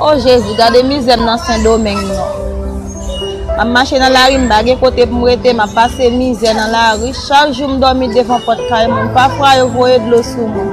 Oh Jezi gade mizè m nan sendomeng non Map mache nan lari m pa gen kote pou m rete map pase mizè nan lari chak jou m domi devan pot kay moun pafwa yo voye dlo sou mwen.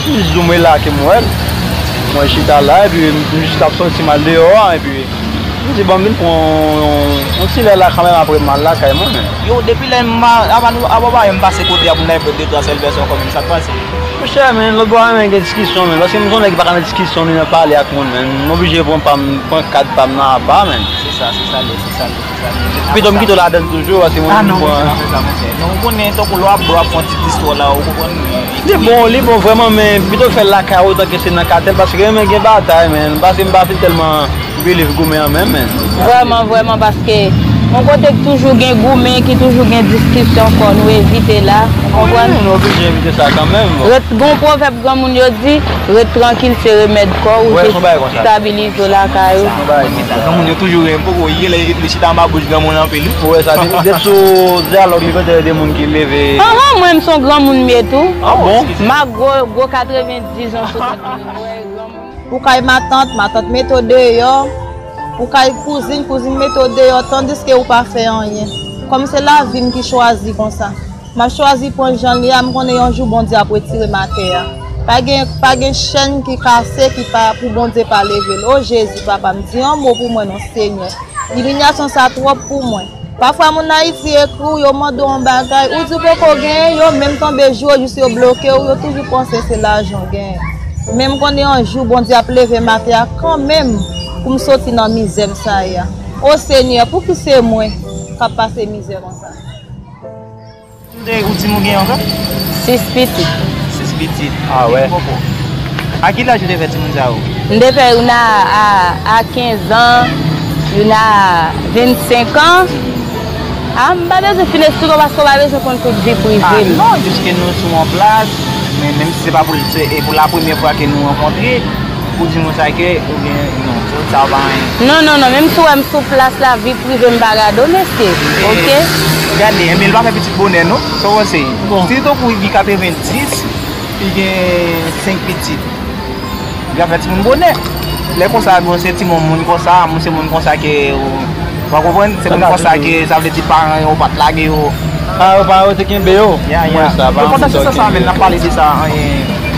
Jis di m wè la ke m wè l. Mwen chita la epi m jis t ap sòti m al deyò an epi m di bon m vin pran yon ti lè la kanmenm apre m al lakay mwen men. Yo depi lè m ava nou ava pa wè m pase kote a pou m ta jwenn de twa sèl vèsyon kòm m sa k pase. Monchè men lòt bò a renmen gen diskisyon men paske m son nèg ki pa ka nan diskisyon ni nan pale ak moun men m oblije pran pa m pran kad pa m nan apa men. Se sa se sa l ye se sa l ye. Pito m kite w ladann toujou paske mwen menm m pran. Ah non, pa fè sa mon chè. Non ou konnen tankou lè w ap bwè w ap pran ti bistro la ou konprann men. Li bon, li bon vrèman men pito fè l lakay ou tanke se nan katèl paske renmen gen batay menn paske m pa fin tèlman believe goumen an menm menn. Vrèman vrèman paske yon kote k toujou gen goumen ki toujou gen diskisyon fò nou evite la ou konprann. Wi, nou oblije evite sa kanmenm bon. Ret gon pwovèb granmoun yo di, ret trankil se remèd kò ou, se stabilize w lakay ou. Granmoun yo toujou ri, m poko ri lè li chita anba bouch granmoun anpil wi. Ou wè sa depi depi sou dyalòg li kontre de moun ki leve e. Anhan mwen m son granmoun me tou. Ah bon? M ak gwo gwo 90 ans sou tèt mwen m wè granmoun. Pou kay matant, matant mete w deyò, pou kay kouzin, kouzin mete w deyò tandiske ou pa fè anyen. Kòm se lavi m ki chwazi konsa. Map chwazi pranl janl ye a m konnen yon jou Bondye ap retirem atè a pa gen pa gen chèn ki kase ki pa pou Bondye pa level oh Jezi papam di yon mo pou mwen non Senyè imilyasyon sa twòp pou mwen. Pafwa moun ayiti ekri w yo mande w yon bagay ou di w poko genyen yo menm tonbe jwe w jis yo bloke w yo toujou panse se lajan w genyen men m konnen yon jou Bondye ap levem atè a kanmenm pou m soti nan mizè m sa ye a oh Senyè pouki se mwen kap pase mizè konsa. Kote ou di nou gen anko? 6 pitit. 6 pitit. Ah wè. A ki laj ou te fè ti moun sa yo? M te fè youn a 15 ans, youn a 25 ans. A m pa bezwen fin esplike w paske w pa bezwen konn tout vi prive m. A non, jiske nou sou yon plaj, menm si se pa pou la premye fwa ke nou rankontre, Ou di moun sa ke ou gen non tout sa ou pa manyen. Non non non menm si ou wèm sou plas la vi privem pa gade w mesye ok. Gade enben li pa fè pitit bonè non sa w panse si tankou li gen 90 li gen 5 pitit li pa fè timoun bonè lè konsa bon se ti moun moun konsa moun se moun konsa ke ou pa konprann se moun konsa ke sa vle di paran yo pat lage yo paran yo te kenbe yo ya ya yo konsa se sa sa menm nap pale de sa anyen.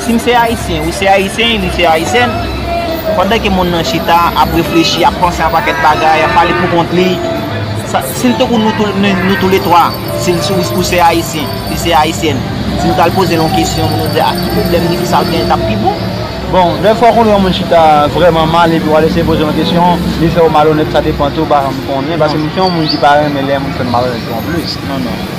Si m se Ayisyen, ou se Ayisyen, li se Ayisyèn, pandan ke moun nan chita, ap reflechi, ap panse a pakèt bagay, ap pale pou kont li, sa, si l te kou nou tou le twa, si l, si ou se Ayisyen, li se Ayisyèn, si nou t al poze l yon kesyon pou nou di, a ki pwoblèm li, ki sa l genyen, t ap pi bon. Bon, dèfwa konnen yon moun chita vrèman mal epi w al eseye poze l yon kesyon, li fè ou malonèt, sa depan tou, m pa janm konnen, paske m se yon moun ki pa renmen lè yon moun fè m malonèt tou anplis.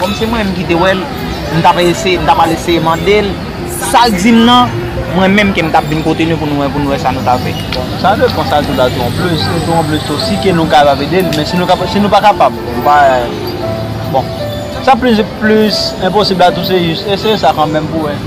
Kòm se mwen menm ki te wè l, m t ap eseye, m t ap al eseye mande l sa l di m nan, mwen menm ke m t ap vin kote nou pou nou wè, pou nou wè sa nou ta fè. Bon, sa depan sa tou la tou an plis, e tou an plis tou si ke nou kapab ede l, men si nou kapab, si nou pa kapab, m pa, bon, sa plis, plis enposib la tou se jis eseye sa kanmenm pou wè.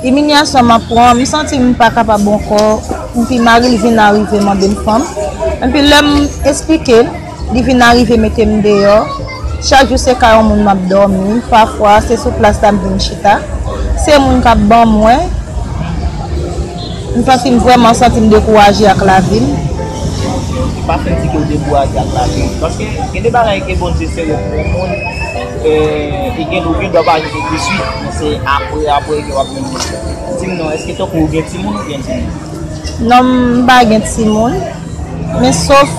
Imilyasyon map pran, m santi m pa kapab ankò, enpi mari l vin arive mande m fanm, enpi lè m esplike l, li vin arive mete m deyò, chak jou se kay on moun map dòmi, pafwa se sou plas la m vin chita, se moun kap ban mwen, m santi m vrèman santi m dekouraje ak lavi m. Ou pa santi ke w dekouraje ak lavi w, paske gen de bagay ke Bondye sere pou on moun. Gen doki dwa pa rive touswit men se apre apre ke wap jwenn moun. Dim non eske tankou ou gen timoun ou gen timoun? Non m pa gen timoun men sof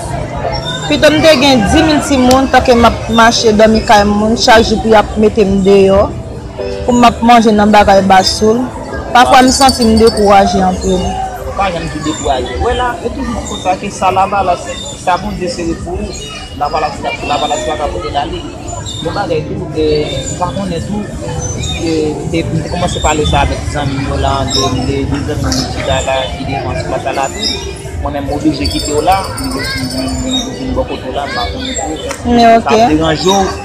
pito m te gen 10000 timoun tanke map mache domi kay moun chak jou pou yap mete m deyo pou map manje nan bagay basoul pafwa m santi m dekouraje anpil. Ou pa janm di dekouraje. Wè la, yo toujou di konsa ke sa lavalas, sa Bondye sere pou ou. Lavalas la lavalas la ka pote lalin. Yon bagay tou m pa konnen tou e m te kòmanse pale sa avèk zanmi m yo la an de de de zanmi m ki chita la ki devan sou plas la la tou mwen menm m oblije kite w la m vin m vin bò kote w la m pa konnen tou èske sa ap deranje w.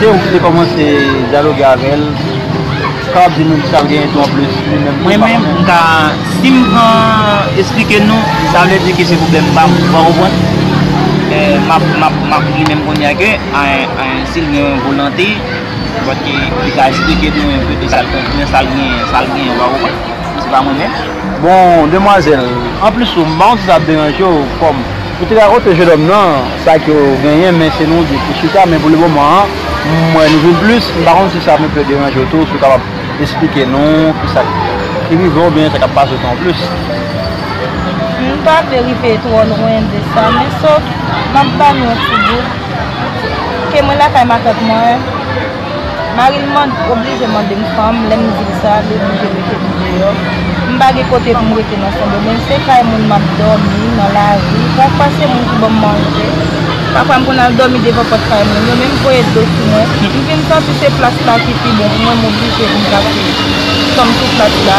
Se ou ki te komanse dyaloge avèl, sa wap di nou ki sa l genyen tou anplis li menm. Mwen menm m ka, si m pran esplike nou, sa vle di ke se pwoblèm pa m, ou pa konprann? Map, map, map di menm kounye a ke si l gen volante, paske li ka esplike nou enpe de sa l konprann, sa l genyen, sa l genyen, ou pa konprann? Se pa mwen menm. Bon, demwazèl, anplis ou, m pa konn si sa ap deranje w, kòm. Ou te rakonte jenòm nan sa ke ou genyen men se nou de ki chita men pou le moman an m wè nou vin plis m pa konn si sa ap enpe deranje w tou si w kapab esplike nou ki sa ki rive w oubyen sa k ap pase w tou anplis. M pa vle rive twò lwen de sa men sof m ap ba nou yon ti bout ke mwen lakay matant mwen. Mari m oblije mande m fanm, lè m di l sa, li oblije mete m deyò. M pa gen kote pou m rete nan Sendomeng, se kay moun m ap dòmi, nan lari. Pafwa se moun ki ban m manje. Pafwa m konn al dòmi devan pòt kay moun yo, men m voye dlo sou mwen. M vin santi se plas la ki pi bon pou mwen, m oblije vin pase tanm sou plas la.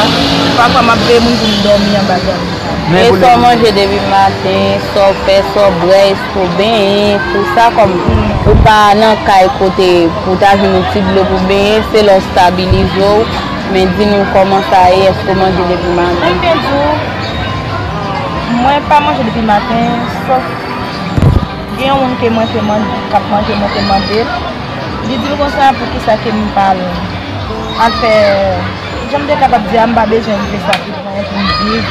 Pafwa m ap veye moun pou m dòmi anba dra m sa. E sa w manje depi maten, sa w fè, sa w bwè. Pou benyen, pou sa kòm ou pa nan kay kote pou ta jwenn yon ti dlo pou benyen, se lè w stabilize w, men di nou kòman sa ye, èske ou manje depi maten? Mwen byen di w, mwen pa manje depi maten, sòf gen yon moun ke mwen te mande, k ap manje mwen te mande l, li di m konsa poukisa ke m pa al fè, jan m te kapab di a m pa bezwen m fè sa. Mwen vin viv,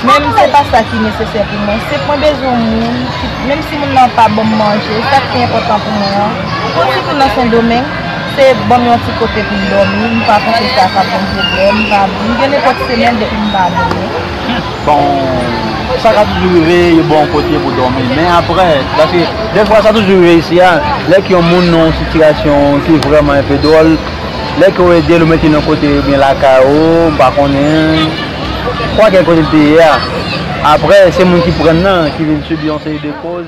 menm se pa sa ki nesesè pou mwen. Se mwen bezwen yon moun, menm si moun nan pa banm manje, sa ki pi enpòtan pou mwen an. Pou sitou nan Sendomeng, se banm yon ti kote pou m dòmi, m pa panse sa ka banm pwoblèm, m pa m gen nenpòt semèn depi m pa domi. Bon, sa ka toujou rive yo ba w yon kote pou dòmi, men aprè, paske dèfwa sa toujou rive isi a, lè k yon moun nan yon sitiyasyon ki vrèman enpe dwòl, Lè ke w ede l, ou mete l yon kote oubyen lakay ou, m pa konnen. Fwa gen kote l te ye a. Apre, se moun ki pran nan ki vin sibi yon seri de koz.